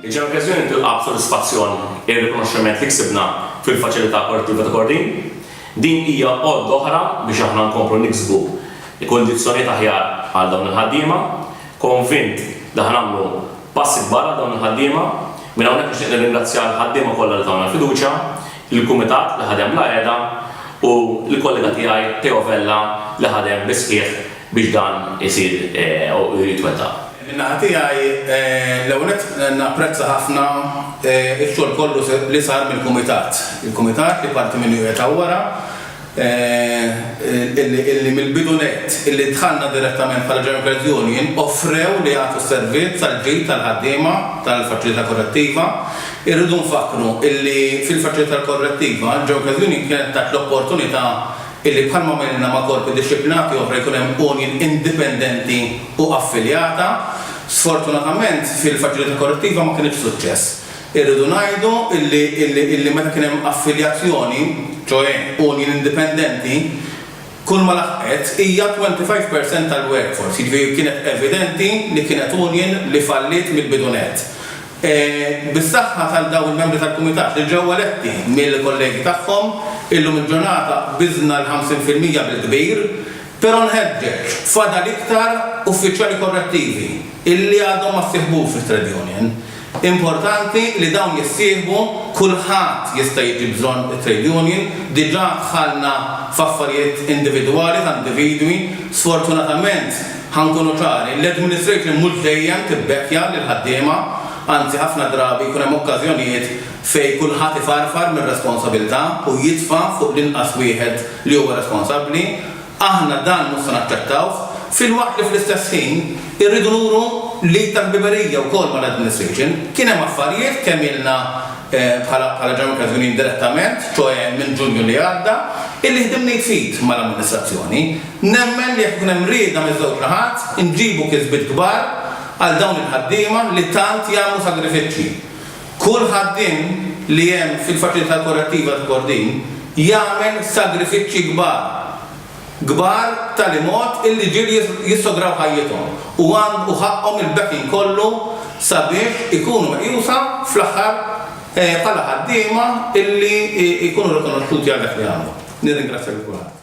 Il-ġenokreżjoni tilqa' b'sodisfazzjon ir-rikonoxximent li ksibna fil-Faċilità Korrettiva ta' Kordin. Din hija għodda oħra biex aħna nkomplu niksbu kundizzjonijiet aħjar għal dawn il-ħaddiema. Konvint li ħa nagħmlu passi kbar għal dawn il-ħaddiema. Minn hawnhekk nixtieq nirringrazzja l-ħaddiema kollha li tawna l-fiduċja. il-kumitat li ħadem bla qiegħda u l-kollega tiegħi Teo Vella li ħadem bis-sħiħ biex dan isir u jitwettaq. Minn naħa tiegħi, l-ewwel nett napprezza ħafna x-xogħol kollu li sar mill-kumitat. Il-kumitat li parti minnu qiegħed hawn wara. illi mill-bidu nett, illi dħalna direttament bħala German Credit Union, offrew li jagħtu s-servizz tal-ġid tal-ħaddiema tal-Faċilità Korrettiva. Irridu nfakkru illi fil-Faċilità Korrettiva, il-German Credit Union kienet tat l-opportunità illi bħalma għamilna ma' korpi dixxiplinati oħra jkun hemm union indipendenti u affiljata. Sfortunatament fil-Faċilità Korrettiva ma kienitx suċċess. Irridu ngħidu illi meta kien hemm affiljazjoni, ċoe union indipendenti, kull ma laħqet hija 25 per cent tal-workforce, jiġifieri kienet evidenti li kienet union li falliet mill-bidu nett. Bis-saħħa tal dawn il-membri tal-Kumitat li ġew eletti mill-kollegi tagħhom, illum il-ġurnata qbiżna l-50 fil-mija bil-kbir, però nħeġġeġ, fadal iktar uffiċjali korrettivi illi għadhom ma ssieħbux fit-trade union. Importanti li dawn jissieħbu, kulħadd jista' jiġi bżonn it-trade union, diġà dħalna f'affarijiet individwali ta' individwi, sfortunatament, ħa nkunu ċari, l-administration mhux dejjem tibbekkja lill-ħaddiema, anzi ħafna drabi jkun hemm okkażjonijiet fejn kulħadd ifarfar mir-responsabilità u jitfa' fuq l-inqas wieħed li huwa responsabbli, Aħna dan mhux se naċċettawh, filwaqt li fl-istess ħin irridu nuru l-id ta' ħbiberija wkoll mal-administration. Kien hemm affarijiet kemm ilna bħala bħala Ġenwin Kazminin direttament, ċoe minn Ġunju li għadda, illi ħdimna id f'id mal-amministrazzjoni. Nemmen li jekk ikun hemm rieda miż-żewġ naħat inġibu kisbiet kbar għal dawn il-ħaddiema li tant jagħmlu sagrifiċċji. Kull ħaddiem li hemm fil-Faċilità Korrettiva ta' Kordin jagħmel sagrifiċċji kbar, kbar b'tali mod illi ġieli jissograw ħajjithom u għandu ħaqqhom il-backing kollu sabiex ikunu meqjusa fl-aħħar bħala ħaddiema illi jkunu rikonoxxuti għal dak li għamlu. Nirringrazzja lil kulħadd.